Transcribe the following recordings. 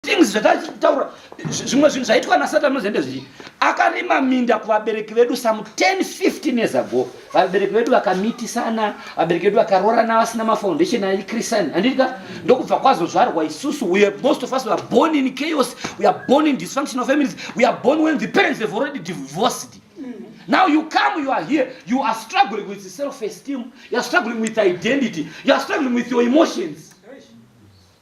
things zvatataura zvimwe zvinhu zvaitwa nasatan nozende zvichi akarima minda kuvabereki vedu some 10 15 years ago vabereki vedu vakamitisana vabereki vedu vakarorana vasina mafoundation aichristani handitika ndokubva kwazozvarwa isusu we are most of us weare born in chaos we are born in dysfunctional families we are born when the parents have already divorced Now you come, you are here, you are struggling with self esteem, you are struggling with identity, you are struggling with your emotions.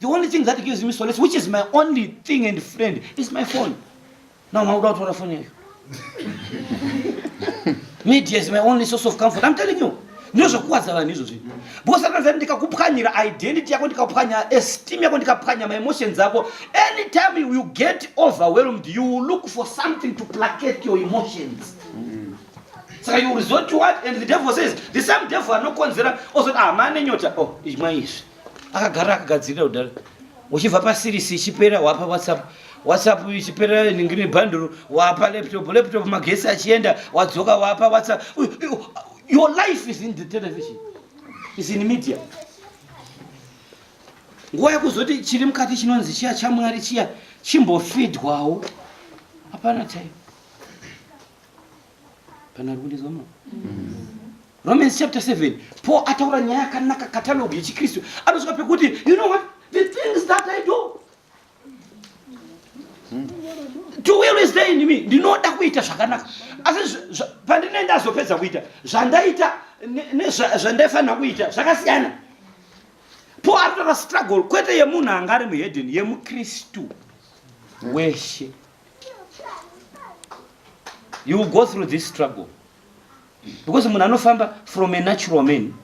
The only thing that gives me solace, which is my only thing and friend, is my phone. Now, how do I turn phone here? Media is my only source of comfort. I'm telling you. ndozvokuwadza vanhu izvozvi because akanzi ndikakupwanyira identity yako ndikapwanya esteem yako ndikapwanya maemotions ako anytime you get overwhelmed you will look for something to placate your emotions saka you resort to what and the devil says the same devil anokonzera ozoti ah mane nyota oh imwa izvi akagara akagadzirira kudhara uchibva pasirisi ichipera wapa whatsapp whatsapp ichipera ningiri bhanduru wapa laptop laptop magesi achienda wadzoka wapa whatsapp your life is in the television is in media nguva yekuzoti chiri mukati chinonzi chiya chamwari chiya chimbofidwawo hapana time Kana rikundizwa mama. Romans chapter 7. Paul ataura nyaya yakanaka catalog yechiKristu. Anosvika pekuti you know what the things that I do to will is there in me ndinoda kuita zvakanaka asi pandine ndazopedza kuita zvandaita nezvandaifanira kuita zvakasiyana po ari kutora struggle kwete yemunhu anga ari muhedeni yemukristu weshe you go through this struggle because munhu anofamba from a natural man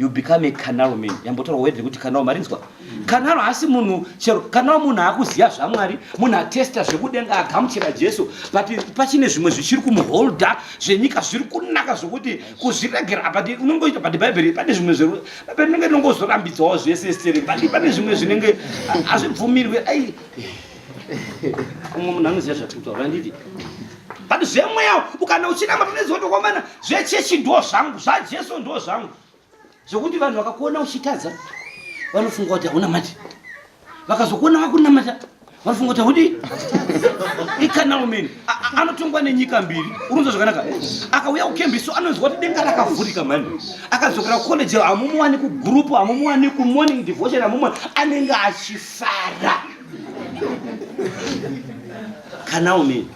you become a canal man yambotorwa wedhe kuti canal marinzwa canal haasi munhu chero canal munhu akuziva zvamwari munhu atesta zvekudenga agamuchira jesu but pachine zvimwe zvichiri kumuholda zvenyika zviri kunaka zvokuti kuzviregera but unongoita but bhaibheri pane zvimwe zve bhaibheri inenge inongozorambidzawo zvese stere but pane zvimwe zvinenge hazvibvumirwe ai umwe munhu anoziva zvatikuta vanditi but zvemweya ukana uchinama toneziva tokwamana zvechechi ndo zvangu zvajesu ndo zvangu zvekuti vanhu vakakuona uchitadza vanofunga kuti hauna mati vakazokuona vakunamata vanofunga kuti haudi ikanalo mene anotongwa nenyika mbiri unonzwa zvakanaka akauya kukembiso anonzwa kuti denga rakavhurika mani akadzokera kucollege hamumuwani kugurupu hamumuwani kumorning devotion hamumuwani anenge achifara kana umene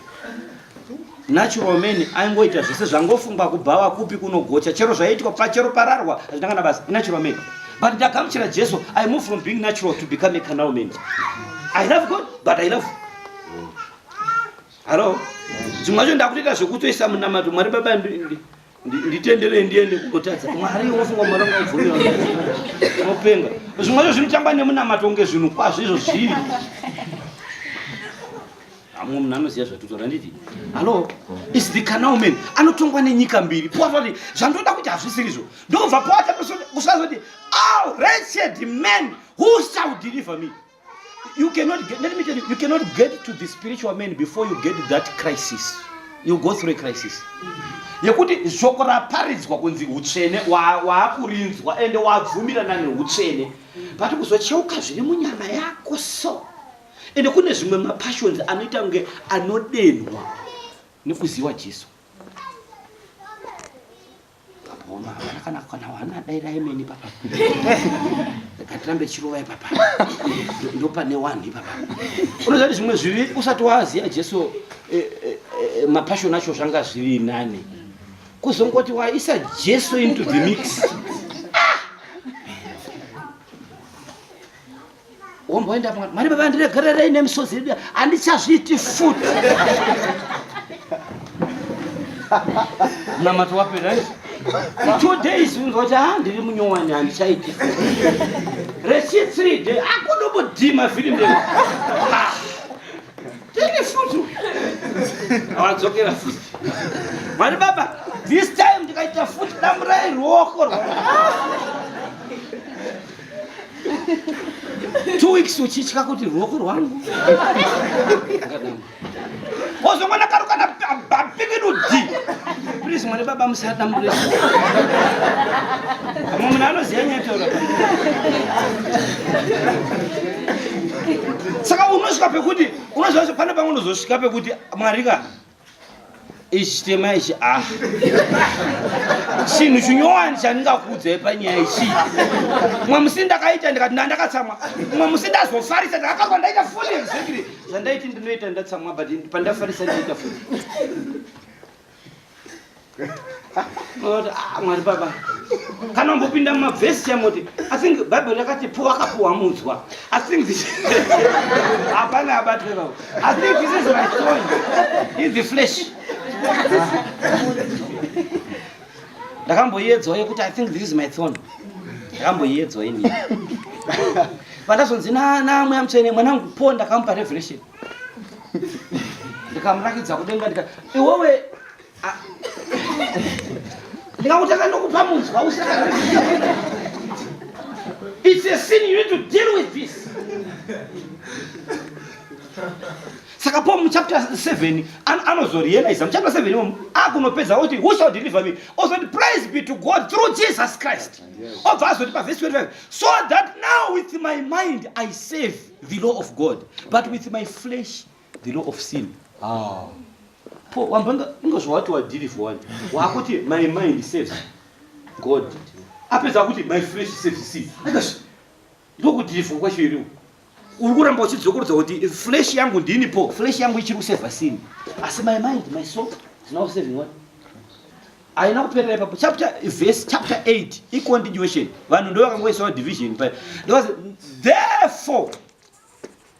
natural man aingoita zvese zvangofungwa kubhawa kupi kunogocha chero zvaiitwa pachero pararwa hazvina kana basa natural man but ndagamuchira jesu i move from being natural to become a canal man i love god but i love hallo dzimwe zvacho ndakutoita zvekutoisa munamato mwari baba nditenderei ndiende kungotadza mwari wofunga mwari angabvumira unopenga zvimwe zvo zvinotamba nemunamato kunge zvinhu kwazvo izvo zviri amwe munhu anoziva zvatotaura nditi hallo is the canal man anotongwa nenyika mbiri poatoti zvandoda kuti hazvisiri zvo ndobva poata kusazoti al oh, wretched man who shall deliver me you cannot get, let me tell you, you cannot get to the spiritual man before you get that crisis. You go through a crisis. yekuti shoko raparidzwa kunzi utsvene waakurinzwa wa ende wabvumirana neutsvene but kuzocheuka zviri munyama yako so ende kune zvimwe mapassions anoita kunge anodenhwa nekuziwa jesu Mama havana kana kana wana daira imeni papa. Ndikatirambe chirova ipapa. Ndopane wani papa. Unoziva kuti zvimwe zvivi usati waziva Jesu eh, eh, eh, mapassion acho zvanga zviri nani. Kuzongoti waisa Jesu into the mix. womboenda mwana mwari baba ndiregererei nemisodzi yedu handichazviiti futi mnamato wapera two days unzwa kuti ha ndiri munyowani handichaiti rechi three day akunobodhima filimu le tini futi awadzokera futi mwari baba this time ndikaita futi damurai ruoko rwa two weeks uchitya kuti ruoko rwangu wozongona karo kana bapikinudi please mwari baba musadambure amwe munhu anoziva nyataura saka unosvika pekuti unoziva pane pamwe unozosvika pekuti mwari ka ichi chitema ichi a ah. chinhu chinyowani chandingakuudzai panyaya ichi mwe musi ndakaita ndikati nda ndakatsamwa mwe musi ndazofarisa ndakakarwa ndaita fuli exactly zvandaiti ndinoita ndatsamwa but pandafarisa ndaita fuli Ah, mwari baba kana umbopinda mumavhesi chamoti athink bhaibheri rakati po akapuwa mudzwa athink hapana abatwe vavo athink this is my soul in the flesh ndakamboiedzwa yekuti i think this is my thon ndakamboiedzwa ini vandazonzi namweya mutsvene mwanangu po ndakamupa revelation ndikamurakidza kudenga ndika iwewe Ah. ndingakutanga nokupa munzwa usaka it's a sin you need to deal with this saka po muchapter 7 anozorealiza muchapter 7 imomo akunopedza oti who shall deliver me ozoti praise be to god through jesus christ obva azoti pavhesi 25 so that now with my mind i save the law of god but with my flesh the law of sin ah po wambanga inga zvawati wadiri for one wakuti my mind saves god apedza akuti my flesh saves sin akash ndokudiri for kwacho iri uri kuramba uchidzokorodza kuti flesh yangu ndini po flesh yangu ichiri kuseva sin asi my mind my soul is now saving one haina kuperera ipapo chapter verse chapter 8 icontinuation vanhu ndo vakangoisawo division pa therefore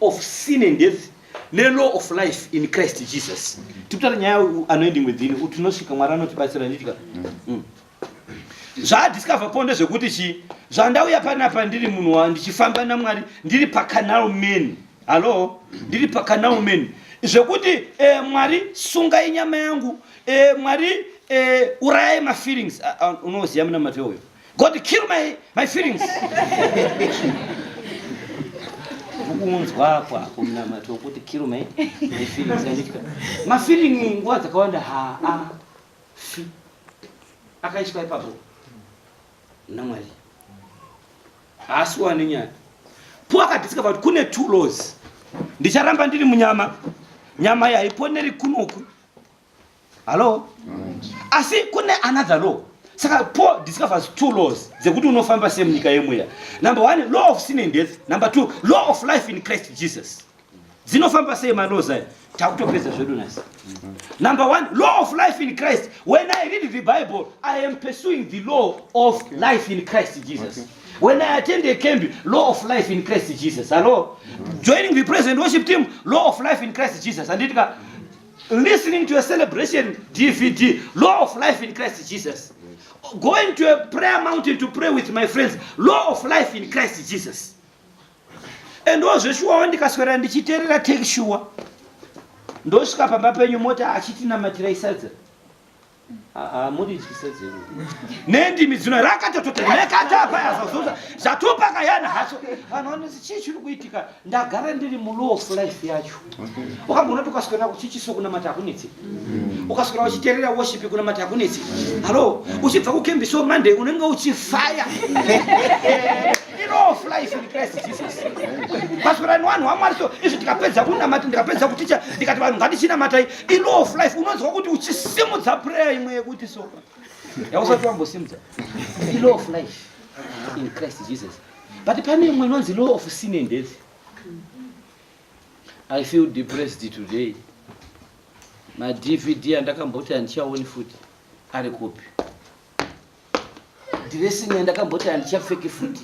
of sin and death nelaw of life in christ jesus tikutara nyaya anoending within utinosvika mwari anotibatsira nditika mm. mm. zvaadiscover po ndezvekuti chii zvandauya panapa ndiri munhu wa ndichifamba namwari ndiri pacanal man hallo ndiri pacanal man zvekuti e, mwari sungai nyama yangu e, mwari e, urayai mafeelings unoziva munamato uyo God kill my, my feelings kuunzwakwa kumunamato wokuti kill my, my feelings anditya mafeeling nguva dzakawanda haa fi akaiswa ipapo namwari haasi wani nyaya po akadisika kuti kune two laws ndicharamba ndiri munyama nyama yaiponeri kunoku hallo asi kune another law saka paul discovers two laws dzekuti unofamba sei munyika yemweya number one law of sin and death number two law of life in christ jesus dzinofamba sei malaws ayo takutopedza zvedu nasi number one law of life in christ when i read the bible i am pursuing the law of life in christ jesus okay. When I attend a camp, law of life in Christ Jesus. Hello? Mm -hmm. Joining the present worship team, law of life in Christ Jesus. And it listening to a celebration dvd law of life in christ jesus going to a prayer mountain to pray with my friends law of life in christ jesus and ozveshuwawo ndikaswera ndichiterera take shuwa ndosvika pamba penyu moti achitinamatira isadza Haa murityise dzimwe. Nendimi dzino rakatototi nekata paya zvazoza zvatupa kayana hacho. Vanhu vanoti chii chiri kuitika ndagara ndiri mulow of life yacho. Ukamboona kuti ukaswera kuchichiso kunamata hakunetsi. Mm. Ukaswera uchiterera worship kunamata hakunetsi. Halo, uchibva kukembi so Monday unenge uchifaya. Iro of life in Christ Jesus. Paswera ni vanhu vamwari so izvi tikapedza kunamata ndikapedza kuticha ndikati vanhu ngatichinamatai ilaw of life unonzwa kuti uchisimudza prayer imwe yekuti so yausati wambosimudza ilaw of life in christ jesus but pane imwe inonzi law of sin and death i feel depressed today madvd andakamboti handichaoni futi ari kupi Dressing yandakamboti handichapfeki futi.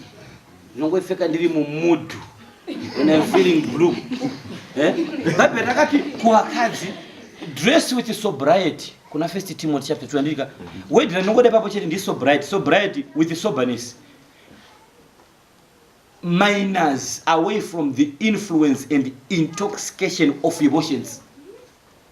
Ndinongoipfeka ndiri mumudhu. When I'm feeling blue. Eh? Bhaibheri rakati kuvakadzi dress with sobriety kuna first timothy chapter 2 andika word ranongoda papo chete ndi sobriety sobriety with soberness minors away from the influence and intoxication of emotions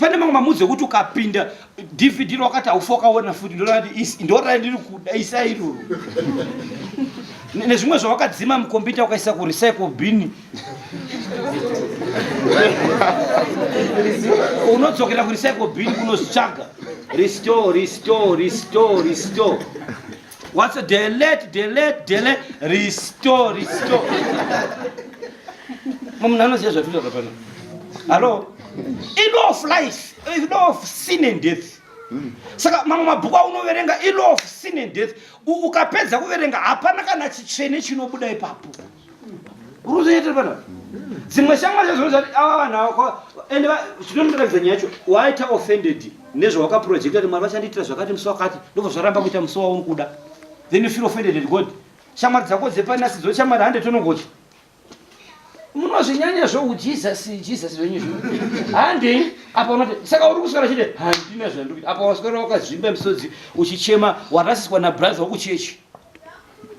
pane mamwe mamuzi ekuti ukapinda dvd rwakati haufa ukaona futi ndorati ndiri kuda isa iroro nezvimwe zvawakadzima mukombiyuta ukaisa kurecycle bin unodzokera kurecycle bin kunozvitsvaga restore restore restore restore What's a delete, delete, delete, restore, restore. Mom, none of this is what I'm Hello? In law of life, in law of sin and death. Saka mamwe mabhuku aunoverenga in law of sin and death. Ukapedza kuverenga hapana kana chitsvene chinobuda ipapo. kuruzoita pana dzimwe shamwari zazvino zvati ava vanhu ava ende zvinondiratidza nyaya yacho waita offended nezvawakaprojecta kuti mwari vachandiitira zvakati musi wakati ndobva zvaramba kuita musi wauri kuda then you feel offended at god shamwari dzako dzepanasi dzo shamwari hande tonongocha munozvinyanya zvoujesus jesus venyu zvo hande apa unoti saka uri kuswera chiti handina zvandikuita apa waswera wakazvimba misodzi uchichema warasiswa nabrother wakuchechi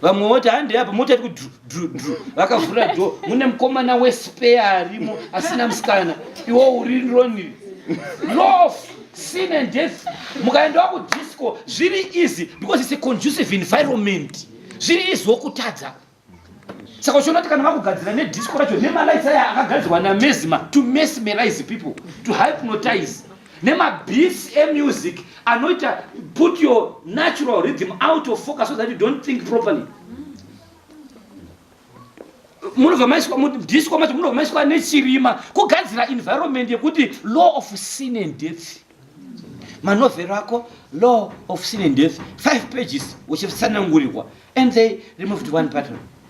vamwe voti hande apa mota iri kudrudru vakavhura dho mune mukomana wespeya arimo asina musikana iwo uri roniri lof sin and death mukaendawo kudisco zviri easy because its a conducive environment zviri easy wokutadza saka uchiona kuti kana vakugadzira nedisco racho nemalights aya akagadzirwa namezima to mesmerize people to hypnotize nemabhisi emusic anoita put your natural rhythm out of focus so that you don't think properly munobva maiswa mudisco macho munobva maiswa nechirima kugadzira environment yekuti law of sin and death manovhero ako law of sin and death five pages uchitsanangurirwa and they removed one pattern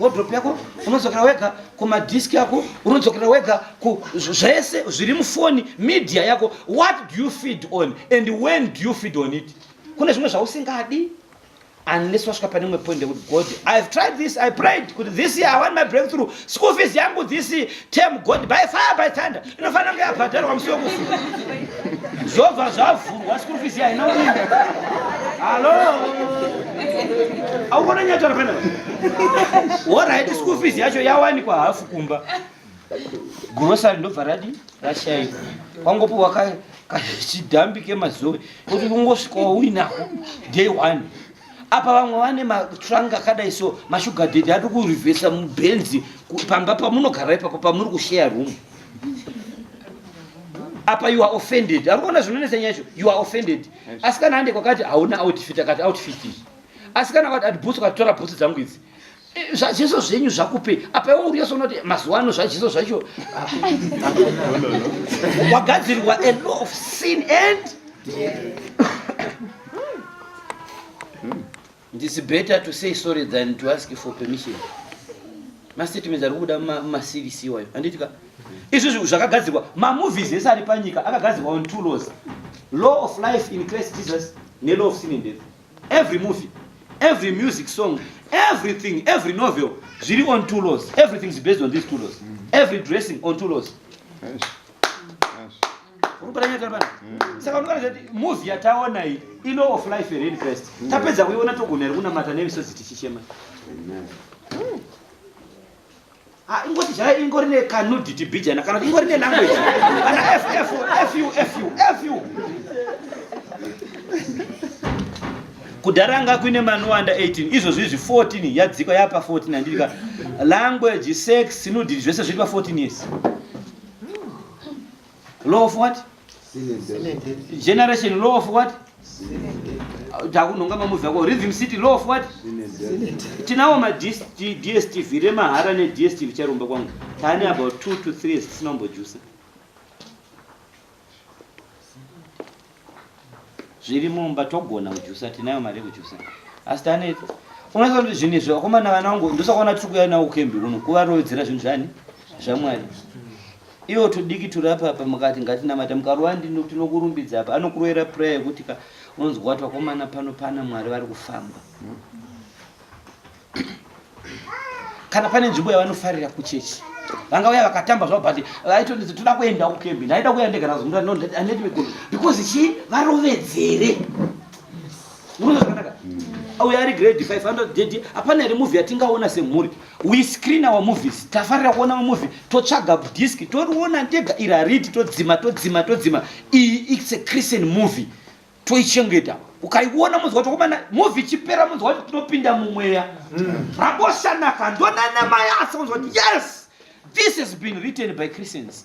wardrobe yako unodzokera wega kumadisk yako unodzokera wega ku zvese zviri mufoni media yako what do you feed on and when do you feed on it kune zvimwe zvausingadi unless wasvika pane imwe point yekuti god i have tried this i prayed kuti this year i want my breakthrough school fees yangu this term god by fire by thunder inofanira kunge yabhadharwa musi wekufu zvobva zvavhurwa school fees haina uningi hallo aukona nyatara pena horaiti school fees yacho yawanikwa hafu kumba grocery ndobva radi rashaika kwangopiwa kachidhambi kemazoe kuti ungosvikawo uinako day one apa vamwe vane matrunk akadai so mashuga dedi ati kurivhesa mubenzi pamba pamunogara ipapo pamuri kusheya room apa you are offended ari kuona zvinonetsa nyaya izvo you are offended asikana ande kwakati hauna outfit akati outfit asikana kwati ati bhutsu katitora bhutsu dzangu idzi Eh, zvajeso zvenyu zvakupe apa iwe uriyo sonoti mazuva ano zvajeso zvacho wagadzirirwa a law of sin and ndisi better to say sorry than to ask for permission mastatements ari kubuda mumacvc iwayo handiti ka izvi zvinhu zvakagadzirwa mamovies ese ari panyika akagadzirwa on two laws law of life in christ jesus nelaw of sin and death every movie every music song everything every novel zviri on two laws everything is based on these two laws mm. every dressing on two laws saka unoona kuti movie yataona iyi ilaw of life here in christ mm. tapedza kuiona togona here kunamata nemisodzi tichichema Ah, ingoti zvayo ingori nekanudity bijana kana ingori nelanguage ana ff fu fu fu kudhara anga kuine manowanda 18 izvo zvizvi 14 yadzika yapa 14 andirika language sex nudity zvese zviri pa 14 years law of what generation law of what takunhonga mamuvi ako rhythm city law of what tinawo madstv remahara nedstv charomba kwangu taane about two to three years tisina kumbojusa zviri mumba togona kujusa tinayo mari yekujusa asi tane unoziva kuti zvinhu izvi vakomana vana vangu ndosakaona tiri kuya nawo kukembi kuno kuvarowedzera zvinhu zvani zvamwari Iwo tudiki turi apa apa mukati ngatinamate mukarova ndini tinokurumbidza apa anokuroera prayer yekuti ka unonzwa wati wakomana pano pana mwari vari kufamba kana pane nzvimbo yavanofarira kuchechi vanga vaya vakatamba zvavo but vaitoti toda kuenda kukembi ndaida kuya ndega nazomura no handiti because chi varovedzere Murume zvakanaka. Auya ari grade 500 dedi hapana here movie yatingaona semhuri. We screen our movies. Tafarira kuona mamovie totsvaga disc toriona tega iri haridi todzima todzima todzima. Iyi it's a Christian movie. Toichengeta. Ukaiona munzwa chokomana movie chipera munzwa kuti tinopinda mumweya. Rakoshanaka ndonana mai asi munzwa yes. This has been written by Christians.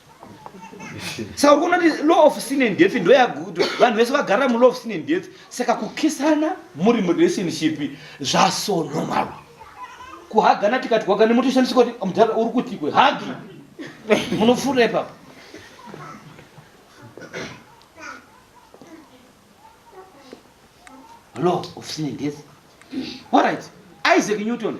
saka kunoti law of sin and death ndoyagudo vanhu vese vagara mulaw of sin and death saka kukisana muri murelationship zvaso normal kuhagana tikati kwakane motoshandisa kuti mudhara uri kuti kwe hagi munofura ipapa law of sin and death all right isaac newton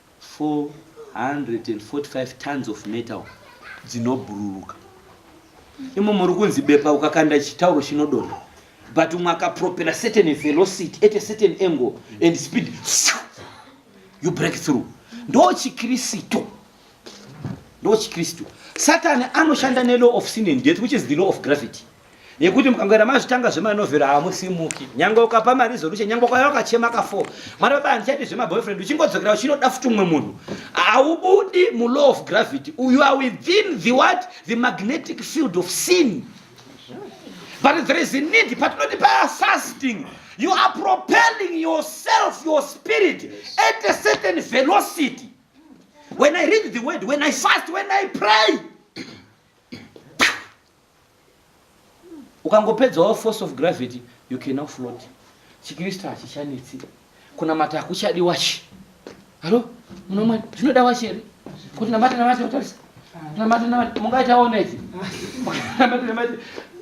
445 tons of metal dzinobhururuka imo muri kunzi bepa ukakanda chitauro chinodonha but umwe akapropera certain velocity at a certain angle and speed you break through ndo chikristu ndo chikristu satani anoshanda nelaw of sin and death which is the law of gravity yekuti mukangoenda mazvitanga zvemanovhero hamusimuki nyange ukapa maresolution nyange ukauya wakachema ka four mwana baba handichaiti zvemaboyfriend uchingodzokera uchinoda futi umwe munhu haubudi mulaw of gravity you are within the what the magnetic field of sin but there is a need patinoti paasasting you are propelling yourself your spirit at a certain velocity when i read the word when i fast when i pray ukangopedzawo force of gravity you can now float chikristu hachichanetsi kunamata hakuchadi wachi halo munomwani zvinoda wachi here kuti namata namata utarisa namata namata mungaitawo neti namata namata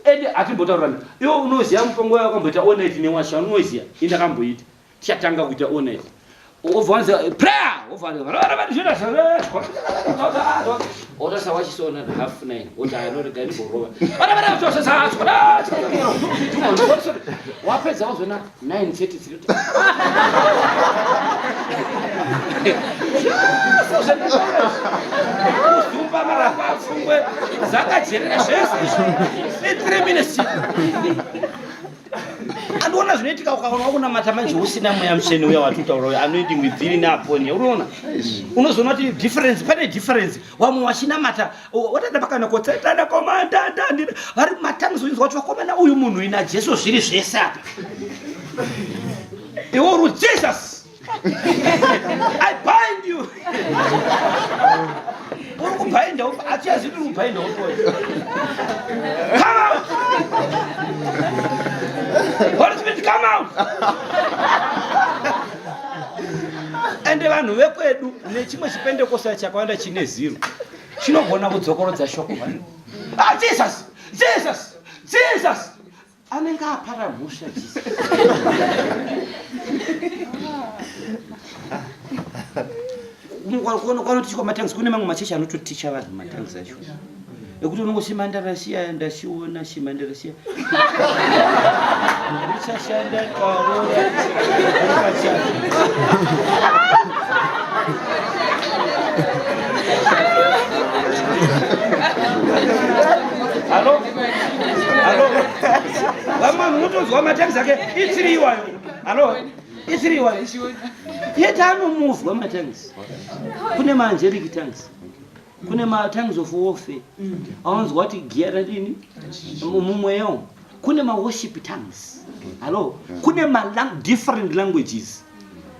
ende hatimbotaurirana iwe unoziva mutongo wayo wakamboita oneti newachi unoziva indakamboita Chatanga kuita honest. Ovanza prayer, ovanza varara vari zvira zvara. Ota sawa chisona na half nine. Ota ano rega ni borova. Vana vana to sa sa. Wapedza wazona 9:33. Kuzumba mara kwa fungwe. Zakajerera zvese. 3 minutes. andiona zvinoitika ukaona wakunamata manje usina mweya mutsvene uya watutaura uya anoidi mwibviri neaponi uriona unozoona kuti difference pane difference wamwe wachinamata watanda pakana kotsetanda komandanda vari matangizo inzwa kuti vakomana uyu munhu ina jesu zviri zvese apa iwo ru jesus I bind you. Uri kubhainda ufa, hatiyazi kuti uri kubhainda ufa. Come out. Holy Spirit, come out. Ende vanhu vekwedu nechimwe chipendekosa chakawanda chine ziro chinogona kudzokorodza shoko vanhu. Ah, Jesus, Jesus, Jesus. anenge apara musha kwanoti kwamatangs kune mamwe machechi anototicha vanhu matangs acho ekuti unongo shima ndarasiya ndasiona shima ndarasiya richashanda karora Hello? Halo. Vamwe munotozwa matax ake isiri iwayo. Halo. Isiri iwayo. Yet anomuvwa matangs. Kune ma angelic tangs. Kune ma tangs of warfare. Awanzwa kuti gear radini? Mumwe yo. Kune ma worship tangs. Halo. Kune ma lang different languages.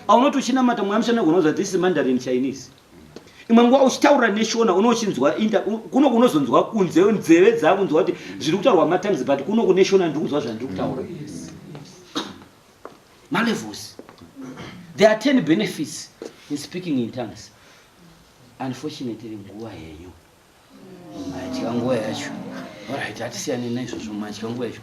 Aunoto chinamata mwamshana gonozwa this is Mandarin Chinese. imwe nguva uchitaurira neshona unochinzwa inda kuno kunozonzwa kunze nzeve dzakunzwa kuti zviri kutaurwa matimes but kuno kune shona ndiri kunzwa zvandiri kutaura malevels there are ten benefits in speaking in tongues unfortunately nguva henyu Madya nguva yacho. Alright, hatisiyane naizvozvo madya nguva yacho.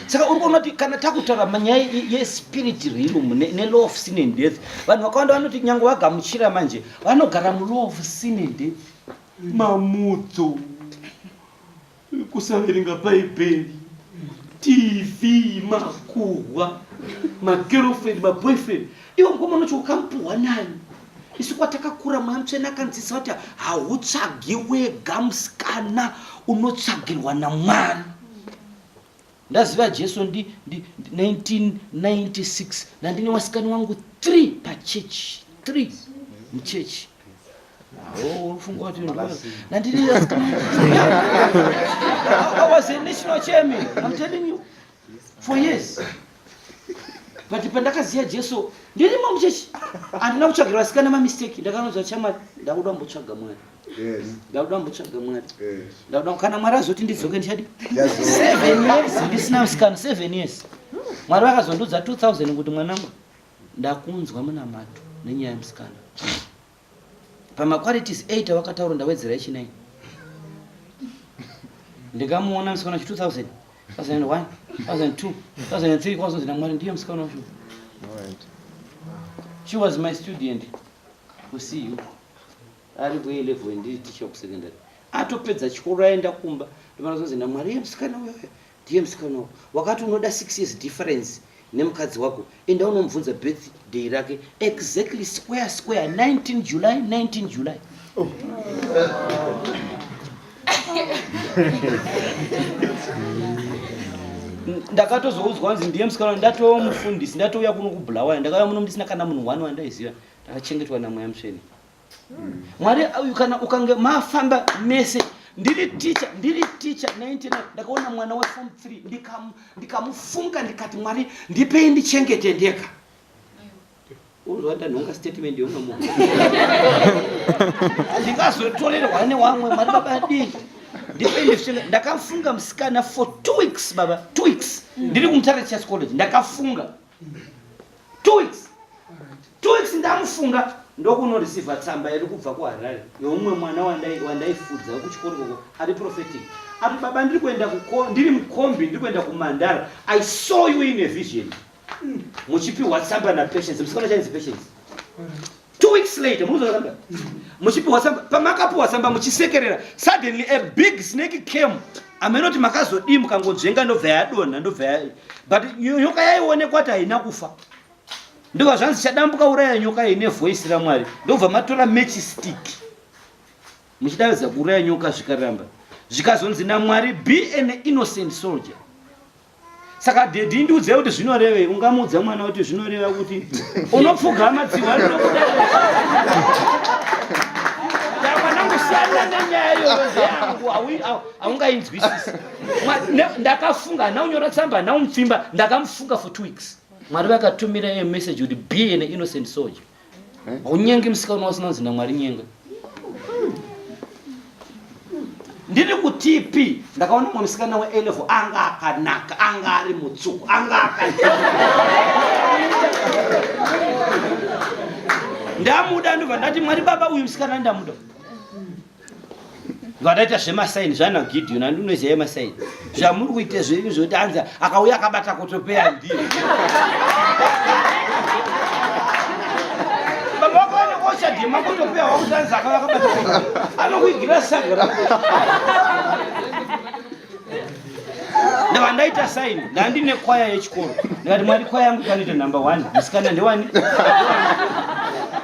saka uri kuona kuti kana takutaura manyaya yespirit realm nelaw of sin and death vanhu vakawanda vanoti nyange vagamuchira manje vanogara mulaw of sin and death mamudzo kusaverenga bhaibheri tv makuhwa magirlfriend maboyfriend iwo mukoma unocho ukamupuhwa nani isu kwatakakura mweya mutsvene akanzisa kuti hautsvagi wega musikana unotsvagirwa namwari Ndaziva Jesu ndi, ndi, ndi 1996 ndandine wasikani wangu 3 pachurch 3 muchurch unofunga kuti ndandine I was a national chairman I'm telling you for years but pandakaziva jesu ndirimo muchechi handina kutsvagira vasikana mamistake ndakanonzwa chamwari ndakuda kumbotsvaga mwari ndakuda kumbotsvaga mwari ndakuda kana mwari azoti ndidzoke ndichadi seven years ndisina musikana seven years mwari vakazondiudza 2000 kuti mwanangu ndakunzwa munamato nenyaya yemusikana pamaqualities 8 awakataura ndawedzera echinai ndikamuona musikana chi 2000 2001 2002 2003 kwazonzi namwari ndiye musikana wacho she was my student kusiyu ari kuye level ndiri ticha kusecondary atopedza chikoro aenda kumba ndimana zonzi namwari ye musikana uyoyo Dear musikana uyu wakati unoda six years difference nemukadzi wako enda unomubvunza birthday rake exactly square square 19 july 19 july oh. ndakatozoudzwa nzi ndiye musikana ndatoo mufundisi ndatouya kuno kubulawaya ndakauya muno ndisina kana munhu one wandaiziva ndakachengetwa namweya musveni mwari uyu kana ukange mafamba mese ndiri ticha ndiri ticha 99 ndakaona mwana weform 3 ndikamufunga ndikati mwari ndipei ndichengete ndega unozoatanhonga statement yomwe mu ndingazotorerwa newamwe mwari baba dii ndipendesvika ndakafunga musikana for two weeks baba two weeks ndiri kumutare church college ndakafunga two weeks two weeks ndamufunga ndokunoreceiva tsamba iri kubva kuharare youmwe mwana wandaifudza wekuchikoro koko ari prophetic ati baba ndiri kuenda ndiri mukombi ndiri kuenda kumandara i saw you in a vision muchipiwa tsamba napatience musikana chainzi patience Two weeks later, munozoona muchipiwa samba, pamakapiwa samba muchisekerera, suddenly a big snake came. Ameno kuti makazodii mukangonzvenga ndobva yadonha ndobva ya but nyoka yaionekwa kuti haina kufa. Ndobva zvanzi chadambuka uraya nyoka ine voice raMwari. Ndobva matora match stick. Muchidaidza kuuraya nyoka zvikaramba. Zvikazonzi naMwari be an innocent soldier. saka dhedhi ndiudzai kuti zvinorevei ungamuudza mwana kuti zvinoreva kuti unopfugama dzihwa rinokuda ndakwanangusiyana nenyaya yoyozeyangu haungainzwisisi ndakafunga hana unyora tsamba hana umupfimba ndakamufunga for two weeks mwari vakatumira ye message kuti be an innocent soldier haunyengi musikana wasina zina mwari nyenga ndiri kutipi ndakaona mwe musikana weelevo anga akanaka anga ari mutsuku anga aka ndamuda ndobva ndati mwari baba uyu musikana ndamuda vanoita zvemasaini zvana gideon andi unoziva yemasaini zvamuri kuita zvenyu zvekuti anzi akauya akabata kotopeya ndii vakaonekoochadhema kotopeya wakuti anzi akauya akabata anokuigira saga ra ndavandaita saini ndandine kwaya yechikoro ndikati mwari kwaya yangu ikanoita number one musikana ndewani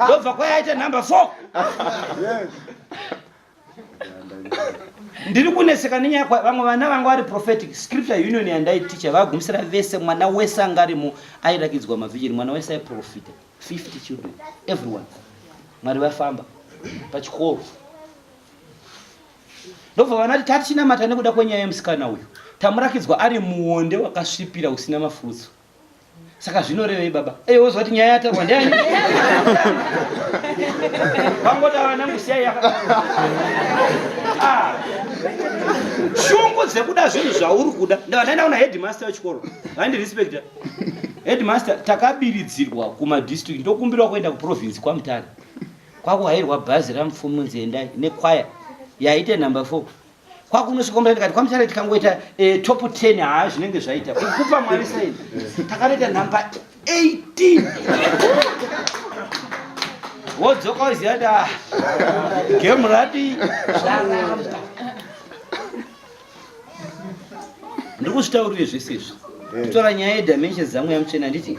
ndobva kwaya yaita number four ndiri kuneseka nenyaya vamwe vana vanga vari prophetic scripture union yandaiticha vagumisira vese mwana wese anga arimo airakidzwa mavhijiri mwana wese aiprofita 50 children everyone mwari vafamba pachikoro ndobva vanati tatichinamata nekuda kwenyaya yemusikana uyu tamurakidzwa ari muonde wakasvipira usina mafutso saka zvinorevei baba eye wozwa kuti nyaya yataurwa ndiani vangotaura nangu siyai ah. shungu dzekuda zvinhu zvauri kuda ndavandaenda kuna headmaster wechikoro vandirespecta headmaster takabiridzirwa kumadistrict ndokumbirwa kuenda kuprovince kwamutare kwakuhairwa bhazi ramupfumunzi endai nekwaya yaite number four kwakunosvika mura ndikati kwamuchare tikangoita eh, top 10 haa zvinenge zvaita kukupa mwari saini takanoita number 18 wodzoka woziva kuti ah, game radi zvaramba ndiri kuzvitaurire zvese izvi kutora nyaya yedimensions dzamweya muchena nditi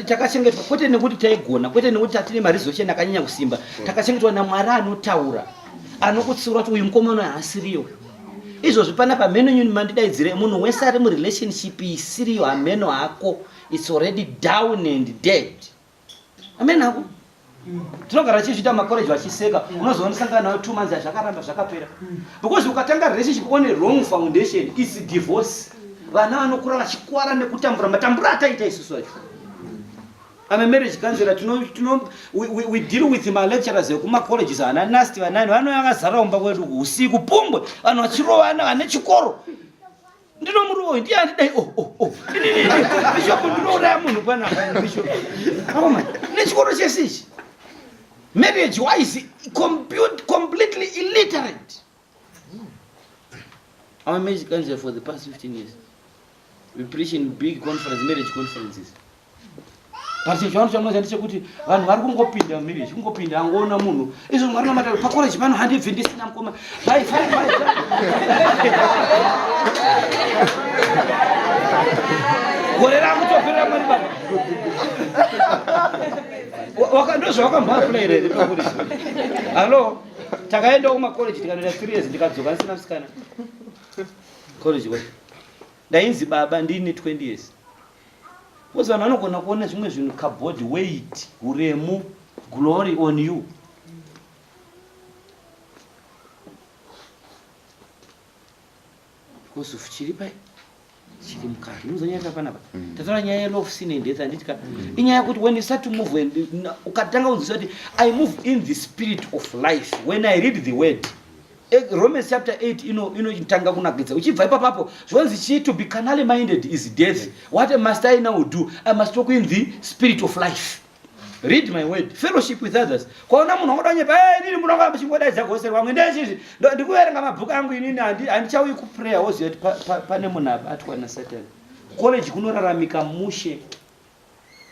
takachengetwa kwete nekuti taigona kwete nekuti tatine marizoshen akanyanya kusimba takachengetwa namwari anotaura anokutsiura kuti uyu mukomana haasiriyo uyu izvozvi pana pamheno nyuni mandidaidzire munhu wese ari murelationship isiriyo hamheno hako its already down and dead hameno hako tinogara tichizviita makoreji vachiseka unozoonesangana nayo two months azvakaramba zvakapera because ukatanga relationship one wrong foundation its divorce vana vanokura vachikwara nekutambura matambura ataita isusu acho I'm a marriage counselor tino tino we, we, we deal with ma lecturers ekuma colleges ana nasti vanani vanouya vakazara kumba kwedu usiku pumbwe vanhu vachirovana vane chikoro ndinomurova uyu ndiye andidai o oh, o oh, o oh. bishopu ndinouraya munhu panapa bishopu aoma nechikoro chese ichi marriage wise completely illiterate Our marriage counselor for the past 15 years. We preach in big conference, marriage conferences. But if you want to know that kuti vanhu vari kungopinda marriage, kungopinda angoona munhu. Izvo mwana mata pa college pano handi vindi sina mkoma. Bye bye bye. Gore rangu topera mwana baba. Wakandozwa wakambapula here pakuri. Hello. takaendawo kumacollege tikanoita three years ndikadzoka ndisina musikana college kwacho ndainzi baba ndiine 20 years bcause vanhu vanogona kuona zvimwe zvinhu kabody weight uremu glory on you Because of chiripa chiri mukati. Munoziva nyaya yatava panapa. Mm. Tataura nyaya yelof sin and death handiti ka. Mm. Inyaya yekuti when you start to move and ukatanga kunzwisisa kuti I move in the spirit of life when I read the word. Eh, Romans chapter 8 ino inotanga kunakidza uchibva ipapapo zvonzi chii to be carnally minded is death what must I now do I must talk in the spirit of life. read my word fellowship with others kwaona munhu wangoda nyepa hey, inini munhu wanga muchingodaidza gose rwangu ndezvizvi ndikuverenga mabhuku angu inini handichauyi kuprayer woziva kuti pane munhu abatwa nasatan college kunoraramika mushe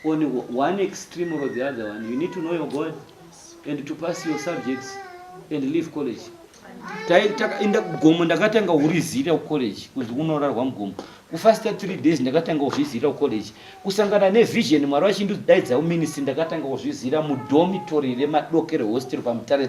on one extreme or the other one you need to know your god and to pass your subjects and leave college takaenda kugomo ndakatanga kurizira kucollege kunzi kunorarwa mugomo kufasta three days ndakatanga kuzvizira kucollege kusangana nevision mwari vachindidaidza kuministry ndakatanga kuzvizira mudomitori remadokero hostel pamutare